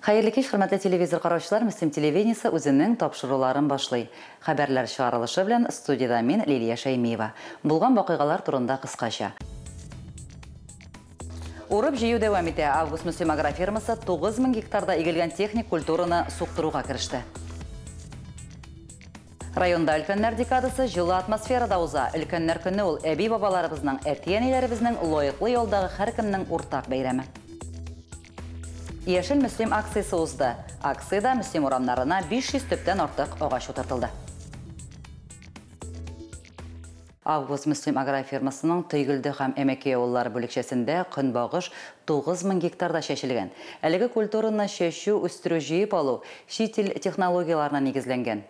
Хәерле кич, хөрмәтле телевизор караучылар, Мөслим телевидениесе үзенең тапшыруларын башлый. Хәбәрләр чыгарылышы белән студиядә мин, Лилия Шәймиева. Булган вакыйгалар турында кыскача. Урып-җыю дәвам итә. Август Мөслим агрофирмасы 9000 гектарда игелгән техник культураны суктыруга кереште. Районда Өлкәннәр декадасы җылы атмосферада уза. Өлкәннәр көне ул, әби-бабаларыбызның, әти-әниләребезнең лаеклы ялдагы һәркемнең уртак бәйрәме. Яшел Мөслим акциясе узды. Акциядә Мөслим урамнарына 500 төптән артык агач утыртылды. Август Мөслим агрофирмасының Тойгелде һәм Әмәкәй авыллары бүлекчәсендә көнбагыш 9000 гектарда чәчелгән. Әлеге культураны чәчү, үстерү, җыеп алу чит ил технологияләренә нигезләнгән.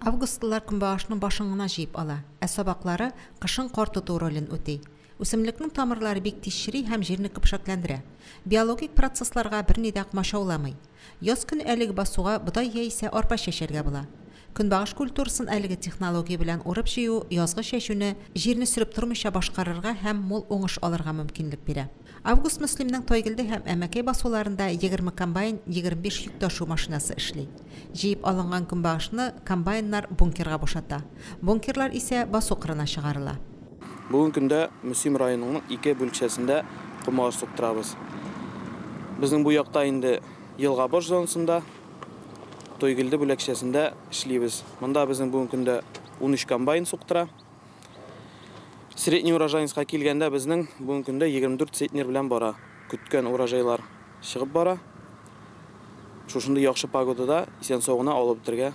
Августлылар көнбагышның башын гына җыеп ала, ә сабаклары кышын кар тоту ролен үти. Үсемлекнең тамырлары бик тиз чери һәм җирне көпшәкләндерә. Биологик процессларга берни дә кмачауламый. Яз көне әлеге басуга бодай яисә арпа чәчәргә була. Көнбагыш культурасын әлеге технология белән урып-җыю язгы чәчүне җирне сөреп тормыйча башкарырга һәм мул уңыш алырга мөмкинлек бирә. Август Мөслимнең Тайгилде һәм Әмәкәй басуларында егерме комбайн, егерме биш йөк ташу машинасы эшли. Җыеп алынган көнбагышны комбайннар бункерга бушата. Бункерлар исә басу кырына чыгарыла. Бүген көндә Мөслим районының ике бүлекчәсендә көнбагыш суктырабыз. Безнең бу якта инде елга баш зонасында, Тойгилде бүлекчәсендә эшлибез. Монда безнең бүген көндә унөч комбайн суктыра. Средний урожайнскка килгәндә безнең бүгенге көндә 24 центнер белән бара. Көткән урожайлар чыгып бара. Шушындый яхшы погодада исән-сау гына алып бетергә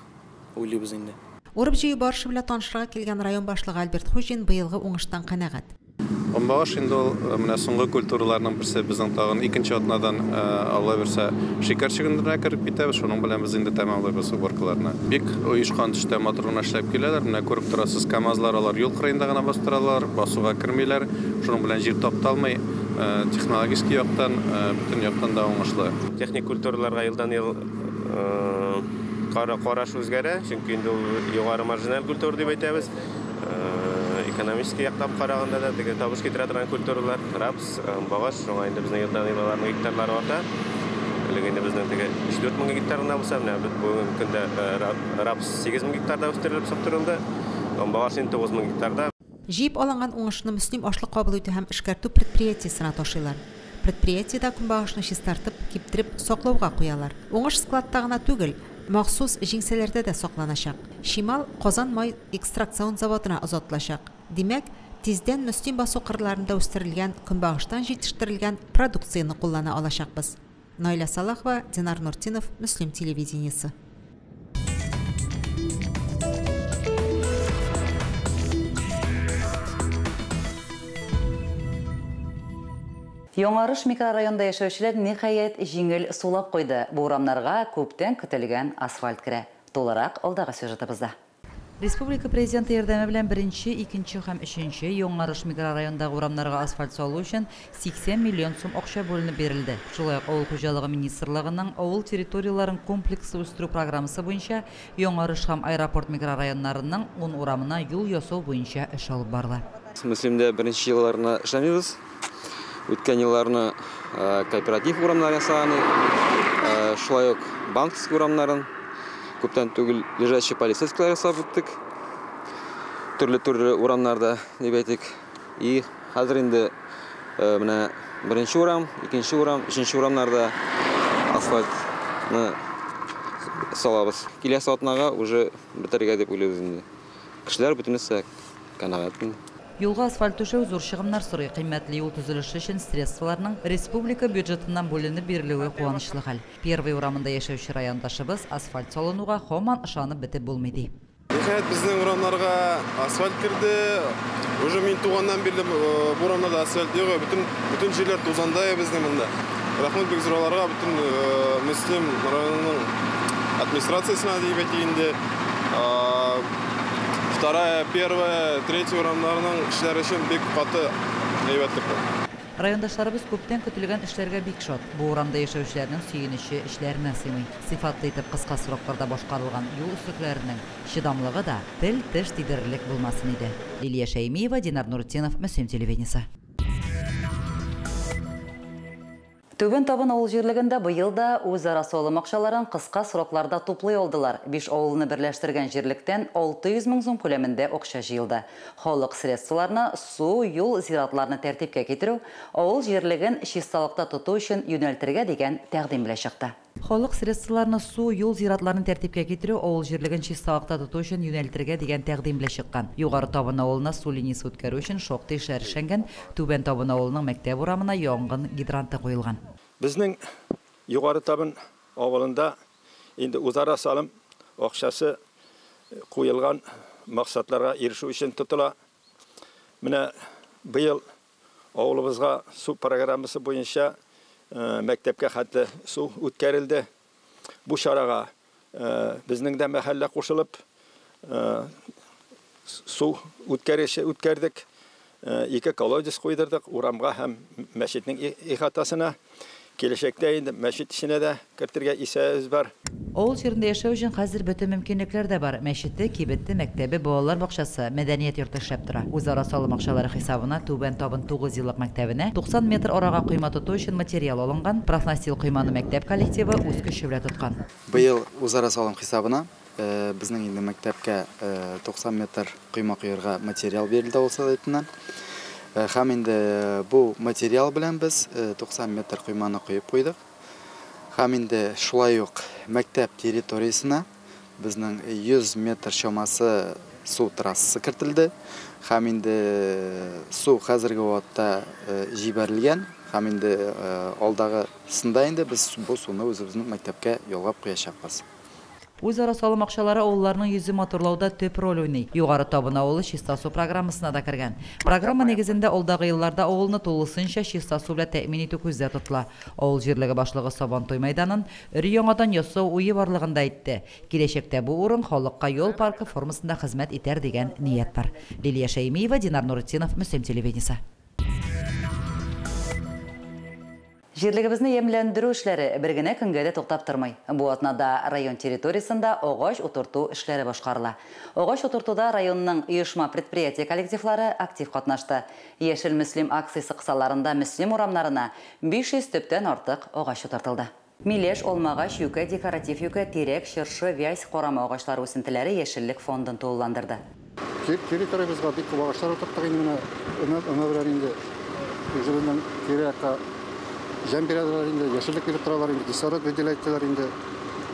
уйлыйбыз инде. Урып-җыю барышы белән танышырга килгән район башлыгы Альберт Хуҗин быелгы уңыштан канәгать. Бомбагаш инде ул э, менә соңгы культураларның берсе безнең тагын икенче атнадан э, алла бирсә шикәр чөгендеренә кереп китәбез шуның белән без инде тәмамлыйбыз уборкаларны бик оешкан төштә матур гына эшләп киләләр менә күреп торасыз камазлар алар юл кырыенда гына бастыралар басуга кермиләр шуның белән җир тапталмый э, технологический яктан бөтен яктан да уңышлы техник культураларга елдан ел караш үзгәрә чөнки инде ул югары маржинал культура дип әйтәбез экономический яктан караганда да теге табыш китерә торган культуралар рапс, багаш, шуңа инде безнең елдан ел аларның гектарлары арта. Элек инде безнең теге 3-4 мең гектар гына булса, менә бүгенге көндә рапс 8 мең гектарда үстерелеп суктырылды, багаш инде 9 мең гектарда. Җыеп алынган уңышны Мөслим ашлык кабул итү һәм эшкәртү предприятиесенә ташыйлар. Предприятиедә көнбагышны чистартып, киптереп, саклауга куялар. Уңыш складта гына түгел, Махсус җиңсәләрдә дә сакланачак. Чимал Казан май экстракцион заводына озатылачак. Димәк, тиздән Мөслим басу кырларында үстерелгән көнбагыштан җитештерелгән продукцияне куллана алачакбыз. Наилә Салахова, Динар Нуртдинов, Мөслим телевидениесе. Яңарыш микрорайонында яшәүчеләр, ниһаять, җиңел сулап куйды, бу урамнарга күптән көтелгән асфальт керә. Тулырак алдагы сюжетыбызда. Республика Президенты ярдәме белән беренче, икенче һәм өченче Яңарыш микрорайонындагы урамнарга асфальт салу өчен 80 миллион сум акча бүленеп бирелде. Шулай ук Авыл хуҗалыгы министрлыгының Авыл территорияләрен комплекслы үстерү программасы буенча Яңарыш һәм Аэропорт микрорайоннарының ун урамына юл ясау буенча эш алып барыла. Мөслимдә беренче елларына эшләмибез. үткән елларны кооператив урамнары ясаганы, шулай ук банковский урамнарын, күптән түгел лежачий полицейскилар ясап үттек. Төрле-төрле урамнарда, дип әйтик. И хәзер инде менә беренче урам, икенче урам, өченче урамнарда асфальтны салабыз. Киләсе атнага уже бетерергә дип уйлыйбыз инде. Кешеләр бөтенесе канәгать инде. Юлга асфальт түшәү зур чыгымнар сорый, кыйммәтле юл төзелеше өчен средстволарның республика бюджетыннан бүленеп бирелүе куанычлы хәл. Первый урамында яшәүче райондашыбыз асфальт салынуга һаман ышанып бетеп булмый, ди. Ниһаять, безнең урамнарга асфальт керде. Уже мин туганнан бирле бу урамнарда асфальт юк, бөтен бөтен җирләр тузандай безнең монда. Рәхмәт бик зур аларга, бөтен Мөслим районының администрациясенә дип әйтик инде. Вторая, первая, третья урамнарының эшләре өчен бик каты әйбәтлек бу. Райондашларыбыз күптән көтелгән эшләргә бик шат. Бу урамда яшәүчеләрнең сөенече эчләренә сыймый. Сыйфатлы итеп кыска срокларда башкарылган юл өслекләренең чыдамлыгы да тел-теш тидерерлек булмасын иде. Лилия Шәймиева, Динар Нуртдинов, Мөслим телевидениесе. Түбән Табын авыл җирлегендә быел да үзара салым акчаларын кыска срокларда туплый алдылар, биш авылны берләштергән җирлектән 600 мең сум күләмендә акча җыелды. Халык средстволарына су, юл, зиратларны тәртипкә китерү, авыл җирлеген чисталыкта тоту өчен юнәлтергә дигән тәкъдим белән чыкты. Халык средстволарны су, юл, зиратларны тәртипкә китерү, авыл җирлеген чисталыкта тоту өчен юнәлтергә дигән тәкъдим белән чыккан. Югары Табын авылына су линиясе үткәрү өчен шактый эшләр эшләнгән, Түбән Табын авылының мәктәп урамына янгын гидранты куелган. Безнең Югары Табын авылында инде үзара салым акчасы куелган максатларга ирешү өчен тотыла. Менә быел Авылыбызга су программасы буенча мәктәпкә хәтле су үткәрелде. Бу чарага безнең дә мәхәллә кушылып, су үткәреше үткәрдек. Ике колодец куйдырдык урамга һәм мәчетнең ихатасына. Киләчәктә инде мәчет эченә дә кертергә исәбебез бар. Авыл җирендә яшәү өчен хәзер бөтен мөмкинлекләр дә бар, мәчете, кибете, мәктәбе, балалар бакчасы, мәдәният йорты эшләп тора. Үзара салым акчалары хисабына Түбән Табын тугыз еллык мәктәбенә 90 метр арага койма тоту өчен материал алынган, профнастил койманы мәктәп коллективы үз көче белән тоткан. Быел үзара салым хисабына Безнең инде мәктәпкә 90 метр койма коерга материал бирелде авыл Советыннан. Хәм инде бу материал белән без 90 метр койманы коеп куйдык. Хәм инде шулай ук мәктәп территориясенә безнең 100 метр чамасы су трассасы кертелде. Хәм инде су хәзерге вакытта җибәрелгән. Хәм инде алдагы сында инде без бу суны үзебезнең мәктәпкә ялгап куячакбыз. Үзара салым акчалары авылларның йөзе матурлауда төп роль уйный. Югары Табын авылы Чиста су программасына да кергән. Программа нигезендә алдагы елларда авылны тулысынча чиста су белән тәэмин итү күздә тотыла. Авыл җирлеге башлыгы Сабантуй мәйданын өр яңадан ясау уе барлыгын да әйтте. Киләчәктә бу урын халыкка ял паркы формасында хезмәт итәр дигән ният бар. Лилия Шәймиева, Динар Нуретдинов, Мөслим телевидениесе. Җирлегебезне ямьләндерү эшләре бер генә көнгә дә туктап тормый. Бу атнада район территориясендә агач утырту эшләре башкарыла. Агач утыртуда районның оешма-предприятие коллективлары актив катнашты. Яшел Мөслим акциясе кысаларында Мөслим урамнарына 500 төптән артык агач утыртылды. Миләш, алмагач, юкә, декоратив юкә, тирәк, чыршы, вязь, карама агачлары үсентеләре яшеллек фондын тулыландырды. Территориябезгә бик күп агачлар утырттык инде менә. Өмә белән инде үзебезнең тирә-якка җәм бирәләр инде, яшеллек биреп торалар инде, кислород выделяйттылар инде.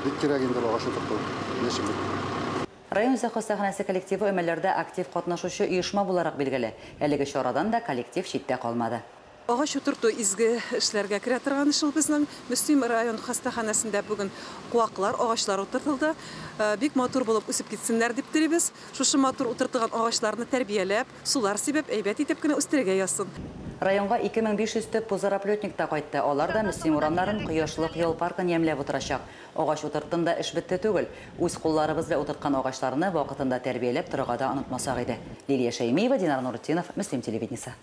Бик кирәк инде агач утырту, яшеллек. Район үзе хастаханәсе коллективы өмәләрдә актив катнашучы оешма буларак билгеле. Әлеге чарадан да коллектив читтә калмады. Агач утырту изге эшләргә керә торган эш ул безнең. Мөслим район хастаханәсендә бүген куаклар, агачлар утыртылды. Бик матур булып үсеп китсеннәр дип телибез. Шушы матур утыртылган агачларны тәрбияләп, сулар сибеп, әйбәт итеп кенә үстерергә язсын. Районга 2500 төп пузырьоплетник та кайтты. Алар да Мөслим урамнарын, кояшлык ял паркын ямьләп утырачак. Агач утырттым да эш бетте түгел. Үз кулларыбыз белән утырткан агачларны вакытында тәрбияләп торырга да онытмасак иде. Лилия Шәймиева, Динар Нуретдинов, Мөслим телевидениесе.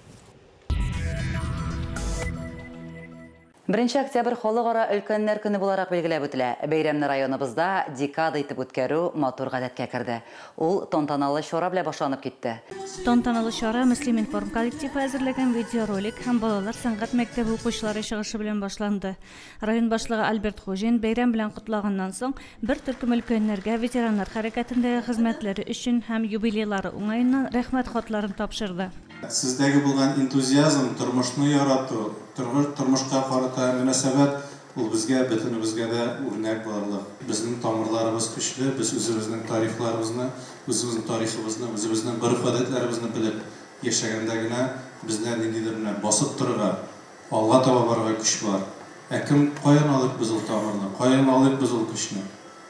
Беренче октябрь Халыкара өлкәннәр көне буларак билгеләп үтелә. Бәйрәмне районыбызда декада итеп үткәрү матур гадәткә керде. Ул тантаналы чара белән башланып китте. Тантаналы чара Мөслиминформ коллективы әзерләгән видеоролик һәм балалар сәнгать мәктәбе укучылары чыгышы белән башланды. Район башлыгы Альберт Хуҗин бәйрәм белән котлаганнан соң, бер төркем өлкәннәргә ветераннар хәрәкәтендәге хезмәтләре өчен һәм юбилейлары уңаеннан Рәхмәт хатларын тапшырды. Сездәге булган энтузиазм, тормышны ярату, тормышка карата мөнәсәбәт, ул безгә, бөтенебезгә дә үрнәк булырлык. Безнең тамырларыбыз көчле, без үзебезнең тарихларыбызны, үзебезнең тарихыбызны, үзебезнең гореф-гадәтләребезне белеп яшәгәндә генә, бездә ниндидер менә басып торырга, Алга таба барырга көч бар. Ә кем, каян алыйк без ул тамырны, каян алыйк без ул көчне?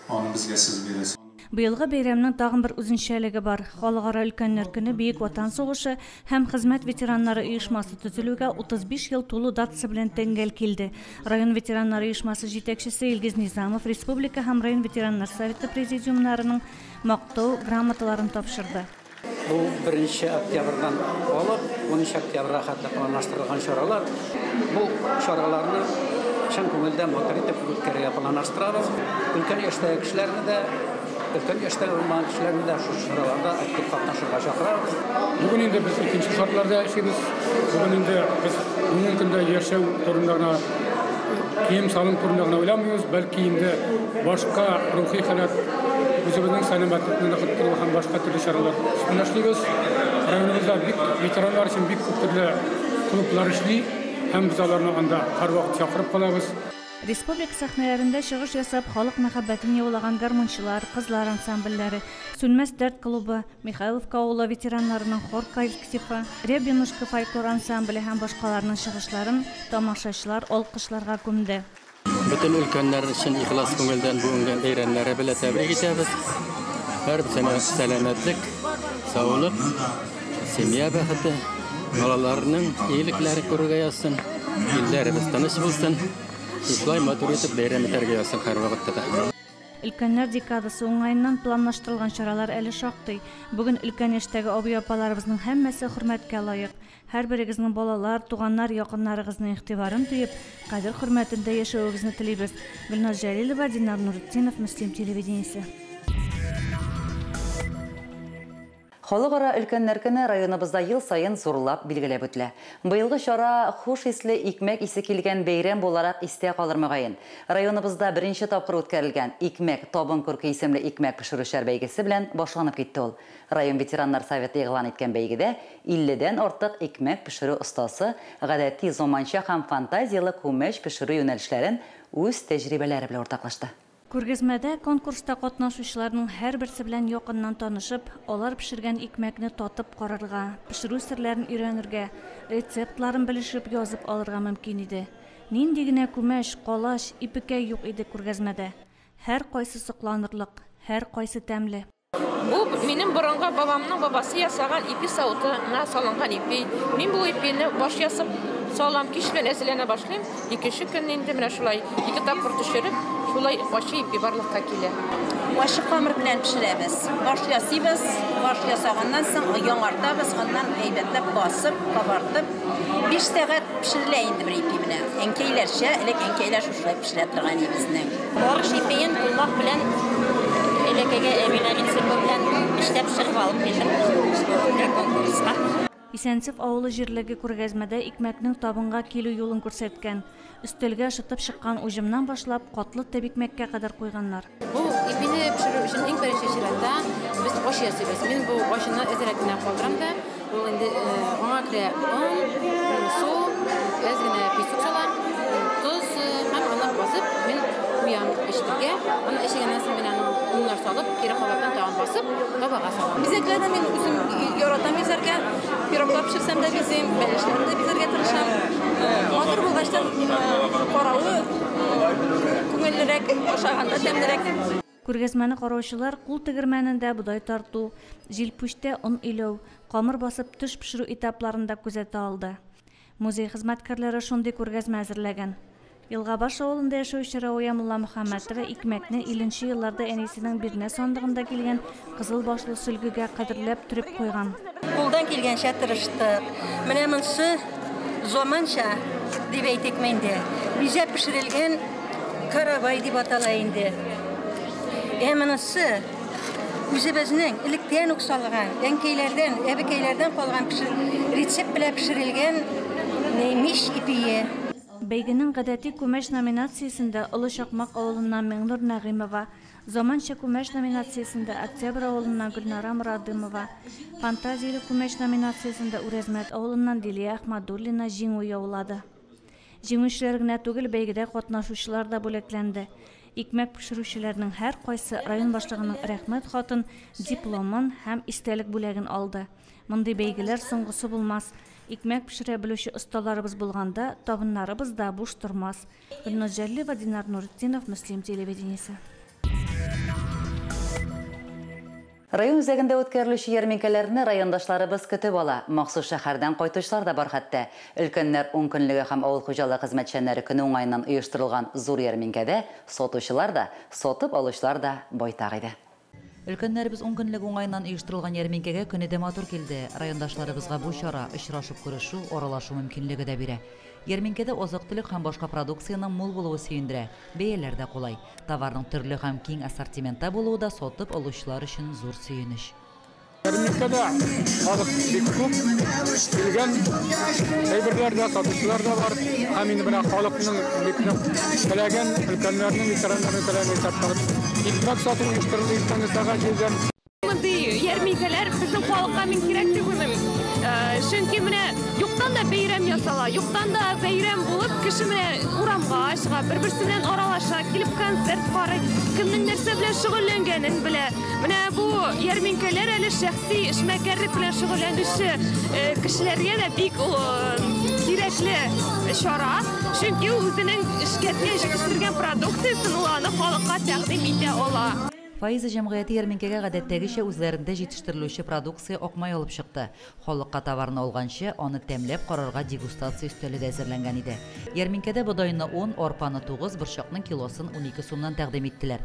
Аны безгә сез бирәсез. Быелгы бәйрәмнең тагын бер үзенчәлеге бар, Халыкара өлкәннәр көне Бөек Ватан сугышы һәм хезмәт ветераннары оешмасы төзелүгә 35 ел тулу датасы белән тәңгәл килде. Район ветераннары оешмасы җитәкчесе Илгиз Низамов республика һәм район ветераннар советы президиумнарының Мактау грамоталарын тапшырды. Бу 1 октябрьдан алып 13 октябрьгә хәтле планлаштырылган чаралар. Бу чараларны чын күңелдән матур итеп үткәрергә планлаштырабыз. Өлкән яшьтәге кешеләрне дә, өлкән яшьтә булмаган кешеләрне дә шушы чараларда актив катнашырга чакырабыз. Бүген инде без икенче шартларда яшибез. Бүген инде без бүгенге көндә яшәү турында гына, кием-салым турында гына уйламыйбыз, бәлки инде. Башка рухи халәт үзебезнең сәламәтлекне ныгыттыру һәм башка төрле чаралар өстендә эшлибез. Районыбызда бик ветераннар өчен бик күп төрле клублар эшли һәм без аларны анда һәрвакыт чакырып калабыз. Республика сәхнәләрендә чыгыш ясап, халык мәхәббәтен яулаган гармунчылар, кызлар ансамбльләре, Сүнмәс дәрт клубы, Михайловка авылы ветераннарының хор коллективы, Рябинушка фольклор ансамбле һәм башкаларның чыгышларын тамашачылар алкышларга күмде. Бөтен өлкәннәр өчен ихлас күңелдән бүгенге бәйрәмнәре белән тәбрик итәбез. Һәрберсенә сәламәтлек, саулык, семья бәхете, балаларның иелекләре күрергә язсын, илләребез тыныч булсын. Шулай матур итеп бәйрәм итәргә язсын һәрвакытта да. Өлкәннәр декадасы уңаеннан планлаштырылган чаралар әле шактый. Бүген өлкән яшьтәге абый-апаларыбызның һәммәсе хөрмәткә лаек. Һәрберегезнең балалар, туганнар, якыннарыгызның игътибарын тоеп, кадер-хөрмәтендә яшәвегезне телибез. Гөлназ Җәлилова, Динар Нуретдинов, Мөслим телевидениесе. Халыкара өлкәннәр көне районыбызда ел саен зурлап билгеләп үтелә. Быелгы чара хуш исле икмәк исе килгән бәйрәм буларак истә калыр мөгаен. Районыбызда беренче тапкыр үткәрелгән Икмәк, табын күрке исемле икмәк пешерүчеләр бәйгесе белән башланып китте ул. Район ветераннар советы игълан иткән бәйгедә Илледән артык икмәк пешерү остасы гадәти, заманча һәм фантазияле күмәч пешерү юнәлешләрен үз тәҗрибәләре белән уртаклашты. Күргәзмәдә конкурста катнашучыларның һәрберсе белән якыннан танышып, алар пешергән икмәкне татып карарга, пешерү серләрен өйрәнергә, рецептларын белешеп, язып алырга мөмкин иде. Нинди генә күмәч, калач, ипекәй юк иде күргәзмәдә! Һәркайсы сокланырлык, һәркайсы тәмле. Бу минем борынгы бабамның бабасы ясаган ипи савыты на салынган ипи. Мин бу ипине баш ясап салам, кич белән әзерләнә башлыйм. Икенче көнне инде менә шулай ике тапкыр төшереп, шулай ачы ипи барлыкка килә. Ачы камыр белән пешерәбез. Баш ясыйбыз, баш ясаганнан соң яңартабыз, аннан әйбәтләп басып, кабартып, 5 сәгать пешерелә инде бер ипи менә. Әнкәйләрчә, элек әнкәйләр Шулай пешерә торган нибезнең. Борыш ипиен кулмак белән элекеге Эмилә Ринсепа белән эшләп пешереп алып килдем шундый конкурска. Исәнсев авылы җирлеге күргәзмәдә икмәкнең табынга килү юлын күрсәткән. Өстәлгә шытып чыккан уҗымнан башлап, катлы тәбикмәккә кадәр куйганнар. Бу ипине пешерү өчен иң беренче чиратта без аш ясыйбыз. Мин бу ашны эт рәтенә калдырам да, ул инде аңа керә он, су, әз генә песок салам, тоз һәм аны басып мин куям пешкәнгә. Аны эчегәннән соң мин аны уннар салып, кире кабаттан тагын басып, табага салам. Бизәкләрне мин үзем яратам бизәргә. Пироглар пешерсәм дә бизим, бәлешләрне дә бизәргә тырышам. Матур булгачтан каравы Күңеллерәк, ашаганда тәмлерәк. Күргәзмәне караучылар кул тегермәнендә бодай тарту, җилпүчтә он иләү, камыр басып төш пешерү этапларын да күзәтә алды. Музей хезмәткәрләре шундый күргәзмә әзерләгән. Елгабаш авылында яшәүче Рауя Мулламөхәммәтова икмәкне илнче елларда әнисенең бирнә сандыгында килгән Кызыл башлы сөлгегә кадерләп төреп куйган. Кулдан килгәнчә тырыштык. Менә монсы заманча дип әйтик инде. Бизәп пешерелгән каравай дип атала инде. Ә монысы үзебезнең электән үк салган, әнкәйләрдән, әбекәйләрдән калган рецепт белән пешерелгән мич ипие. Бәйгенең гадәти күмәч номинациясендә Олы Чакмак авылыннан Миңнур Нәгыймова, Заманча күмәч номинациясендә Октябрь авылыннан Гөлнара Морадымова, Фантазияле күмәч номинациясендә Үрәзмәт авылыннан Лилия Әхмәдуллина җиңү яулады. Җиңүчеләр генә түгел, бәйгедә катнашучылар да бүләкләнде. Икмәк пешерүчеләрнең һәркайсы район башлыгының Рәхмәт хатын, дипломын һәм истәлек бүләген алды. Мондый бәйгеләр соңгысы булмас. Икмәк пешерә белүче осталарыбыз булганда, табыннарыбыз да буш тормас. Гөлназ Җәллева, Динар Нуретдинов, Мөслим телевидениесе. Район үзәгендә үткәрелүче ярминкәләрне райондашларыбыз көтеп ала, махсус шәһәрдән кайтучылар да бар хәтта. Өлкәннәр ункөнлеге һәм авыл хуҗалыгы хезмәтчәннәре көне уңаеннан оештырылган зур ярминкәдә сатучылар да, сатып алучылар да байтак иде. Өлкәннәребез ункөнлек уңаеннан оештырылган ярминкәгә көне дә матур килде. Райондашларыбызга бу чара, очрашып күрешү, аралашу мөмкинлеге дә бирә. Ярминкәдә азык-төлек һәм башка продукциянең мул булуы сөендерә, бәяләр дә кулай. Товарның төрле һәм киң ассортиментта булуы да сатып алучылар өчен зур сөенеч. Рынокта да халык бик күп, килгән әйберләр дә, сатучылар да бар. Һәм инде менә халыкның бик нык теләгән, өлкәннәрнең, ветераннарның теләген исәп салып, икмәк сату оештырылды иртәнге сәгать җидедән. Мондый ярминкәләр безнең халыкка мин кирәк дип уйлыйм. Чөнки менә юктан да бәйрәм ясала, юктан да бәйрәм булып, кеше менә урамга чыга, бер-берсе белән аралаша, килеп концерт карый, кемнең нәрсә белән шөгыльләнгәнен белә. Менә бу ярминкәләр әле шәхси эшмәкәрлек белән шөгыльләнүче э, кешеләргә дә бик кирәкле чара, чөнки ул үзенең эшкәрткән, җитештергән продукциясен ул аны халыкка тәкъдим итә ала. Фаиза җәмгыяте ярминкәгә гадәттәгечә үзләрендә җитештерелүче продукция акмай алып чыкты. Халыкка товарны алганчы, аны тәмләп карарга дегустация өстәле дә әзерләнгән иде. Ярминкәдә бодайны он, арпаны тугыз, борчакның килосын унике сумнан тәкъдим иттеләр.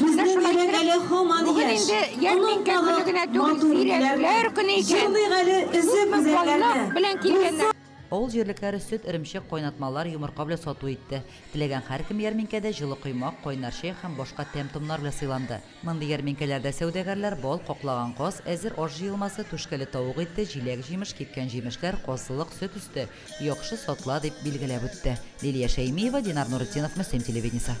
Безнең йөрәк әле һаман яшь, аның тагы матур итүләр, җырлыйк әле эзе күзәрләрне. Авыл җирлекләре сөт, эремчек, кайнатмалар, йомырка белән сату итте. Теләгән һәркем ярминкәдә җылы коймак, кайнар чәй һәм башка тәм-томнар белән сыйланды. Мондый ярминкәләрдә сәүдәгәрләр бал, каклаган каз, әзер аш җыелмасы, түшкәле тавык ите, җиләк-җимеш, кипкән җимешләр, казылык, сөт өсте, яхшы сатыла, дип билгеләп үтте Лилия Шәймиева, Динар Нуретдинов, Мөслим телевидениесе.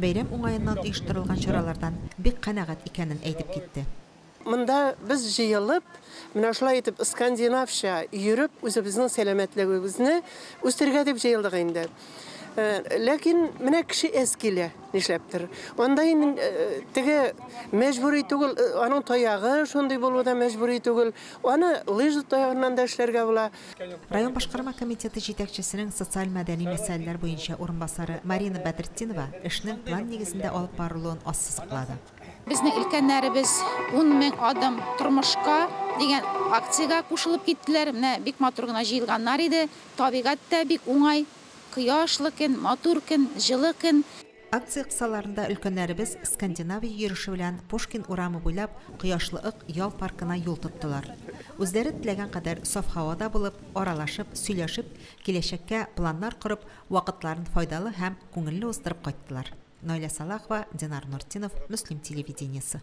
Бәйрәм уңаеннан оештырылган чаралардан бик канәгать икәнен әйтеп китте. Монда без җыелып, менә шулай итеп скандинавча йөреп, үзебезнең сәламәтлегебезне үстерергә дип җыелдык инде. Ләкин менә кеше әз килә, нишләптер. Анда инде теге мәҗбүри түгел, аның таягы шундый булу да мәҗбүри түгел. Аны лыжа таягыннан да эшләргә була. Район башкарма комитеты җитәкчесенең социаль-мәдәни мәсьәләләр буенча урынбасары Марина Бәдретдинова эшнең план нигезендә алып барылуын ассызыклады. Безнең өлкәннәребез Ун мең адым тормышка дигән акциягә кушылып киттеләр. Менә бик матур гына җыелганнар иде. Табигать тә бик уңай, кояшлы көн, матур көн, җылы көн. Акция кысаларында өлкәннәребез Скандинавия йөреше белән Пушкин урамы буйлап Кояшлы Ык ял паркына юл тоттылар. Үзләре теләгән кадәр саф һавада булып, аралашып, сөйләшеп, киләчәккә планнар корып, вакытларын файдалы һәм күңелле уздырып кайттылар. Наилә Салахова, Динар Нортдинов, Мөслим телевидениесе.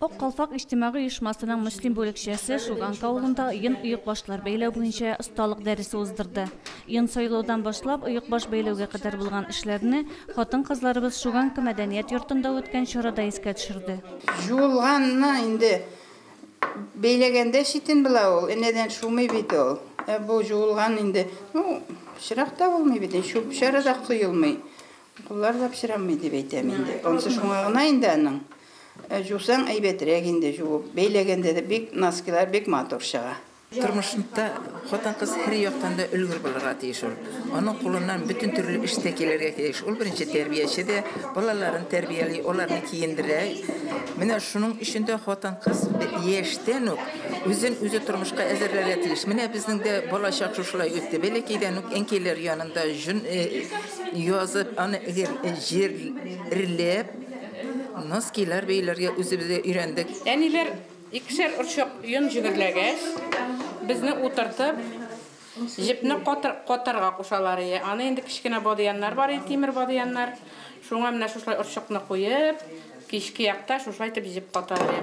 Ак калфак иҗтимагый оешмасының мөслим бүлекчәсе Шуганка авылында йон оекбашлар бәйләү буенча осталык дәресе уздырды. Йон сайлаудан башлап, оекбаш бәйләүгә кадәр булган эшләрне хатын-кызларыбыз Шуганка мәдәният йортында үткән чарада искә төшерде. Җуылганны инде бәйләгәндә читен була ул, энәдән шумый бит ул. Ә бу җуылган инде, ну, чырак та булмый бит, чүп-чары да коелмый. Куллар да пычрамый дип әйтәм инде. Ансы шуңа гына инде аның. Жусаң әйбәтрәк инде жуып. Бәйләгәндә дә бик носкилар бик матур чыга. Тормышында хатын-кыз һәр яктан да өлгер булырга тиеш ул. Аның кулыннан бөтен төрле эш тә килергә тиеш. Ул беренче тәрбияче дә, балаларын тәрбияли, аларны киендерә. Менә шуның өчен дә хатын-кыз яшьтән үк үзен үзе тормышка әзерләргә тиеш. Менә безнең дә балачак шушылай үтте. Бәләкәйдән үк әнкәйләр янында җон язып, аны җирләп, носкилар бәйләргә үзебез дә өйрәндек. Әниләр икешәр орчык йон җеберләгәч, безне утыртып, җепне катарга кушалар иде. Аны инде кечкенә бадыяннар бар иде, тимер бадыяннар. Шуңа менә шушылай орчыкны куеп, кичке якта шушылай итеп җеп ката иде.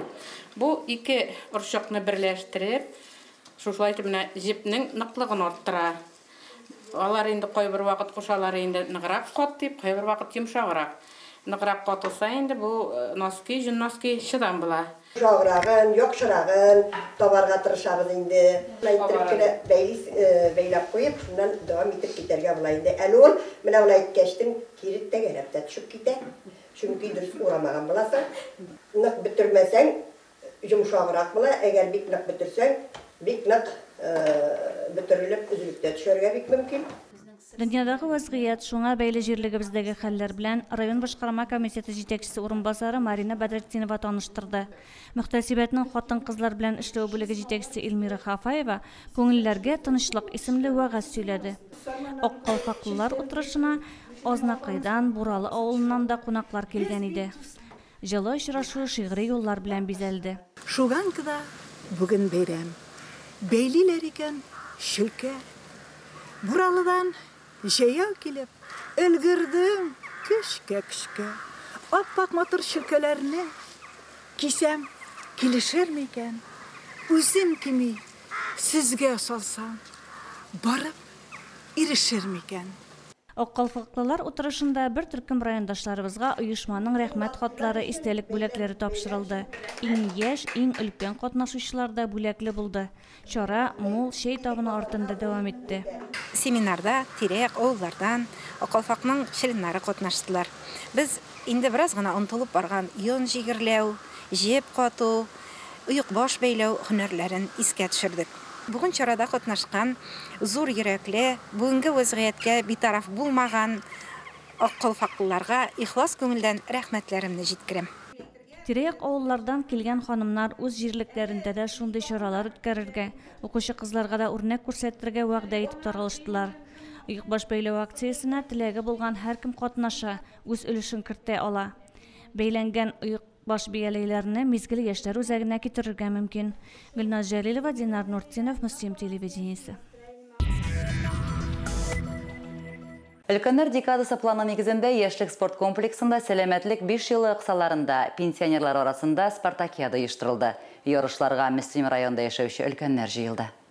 Бу ике орчыкны берләштереп, шушылай итеп менә җепнең ныклыгын арттыра. Алар инде кайбер вакыт кушалар инде ныграк кат дип, кайбер вакыт йомшаграк. Ныграк катылса инде бу носки, җон носки чыдам була. Йомшаграгын, яхшырагын табарга тырышабыз инде. Әйттереп кенә бәйлис, бәйләп куеп, шуннан дәвам итеп китәргә була инде. Әле ул менә болай иткәчтен кире тәгәрәп тә төшеп китә, чөнки дөрес урамаган буласың. Нык бөтермәсәң, Йомшаграк була, әгәр бик нык бөтерсәң, бик нык бөтерелеп, өзелеп тә төшәргә бик мөмкин. Дөньядагы вәзгыять, шуңа бәйле җирлегебездәге хәлләр белән район башкарма комитеты җитәкчесе урынбасары Марина Бәдретдинова таныштырды. Мөхтәсибәтнең хатын-кызлар белән эшләү бүлеге җитәкчесе Эльмира Хафаева Күңелләргә тынычлык исемле вәгазь сөйләде. Ак калфаклылар утырышына Азнакайдан, Буралы авылыннан да кунаклар килгән иде. Җылы очрашу шигъри юллар белән бизәлде. Шуганкада бүген бәйрәм. Бәйлиләр икән чөлкә. Буралыдан җәяү килеп, өлгердем көчкә-көчкә. Ап-ак матур чөлкәләрне кисәм, килешерме икән? Үзем кими, сезгә салсам, барып. ирешер микән? Аккалфаклылар утырышында бер төркем райондашларыбызга оешманың Рәхмәт хатлары, истәлек бүләкләре тапшырылды. Иң яшь, иң өлкән катнашучылар да бүләкле булды. Чара мул чәй табыны артында дәвам итте. Семинарда тирә-як авыллардан аккалфакның членнары катнаштылар. Без инде бераз гына онытылып барган йон җигерләү, җеп кату, оекбаш бәйләү һөнәрләрен искә төшердек. Бүген чарада катнашкан зур йөрәкле, бүгенге вәзгыятькә битараф булмаган Ак калфаклыларга ихлас күңелдән рәхмәтләремне җиткерәм. Тирә-як авыллардан килгән ханымнар үз җирлекләрендә дә шундый чаралар үткәрергә, укучы кызларга да үрнәк күрсәтергә вәгъдә итеп таралыштылар. Оекбаш бәйләү акциясенә теләге булган һәркем катнаша, үз өлешен кертә ала. Бәйләнгән оек. Баш бияләйләрне Мизгел яшьләр үзәгенә китерергә мөмкин. Гөлназ Җәлилова, Динар Нуртдинов, Мөслим телевидениесе. Өлкәннәр декадасы планы нигезендә Яшьлек спорт комплексында Сәламәтлек биш елы кысаларында пенсионерлар арасында спартакиада оештырылды. Ярышларга Мөслим районында яшәүче өлкәннәр җыелды.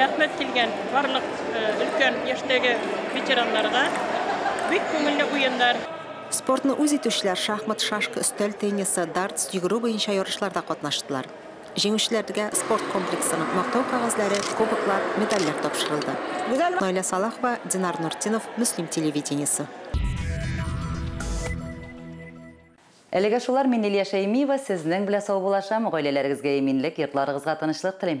Рәхмәт килгән барлык өлкән яшьтәге ветераннарга. Бик күңелле уеннар. Спортны үз итүчеләр шахмат, шашка, өстәл теннисы, дартс, йөгерү буенча ярышларда катнаштылар. Җиңүчеләргә спорт комплексының мактау кәгазьләре, кубоклар, медальләр тапшырылды. Наилә Салахова, Динар Нуртдинов, Мөслим телевидениесе. Әлегә шулар, мин Лилия Шәймиева сезнең белә саубуллашам, гаиләләрегезгә иминлек, йортларыгызга тынычлык телим.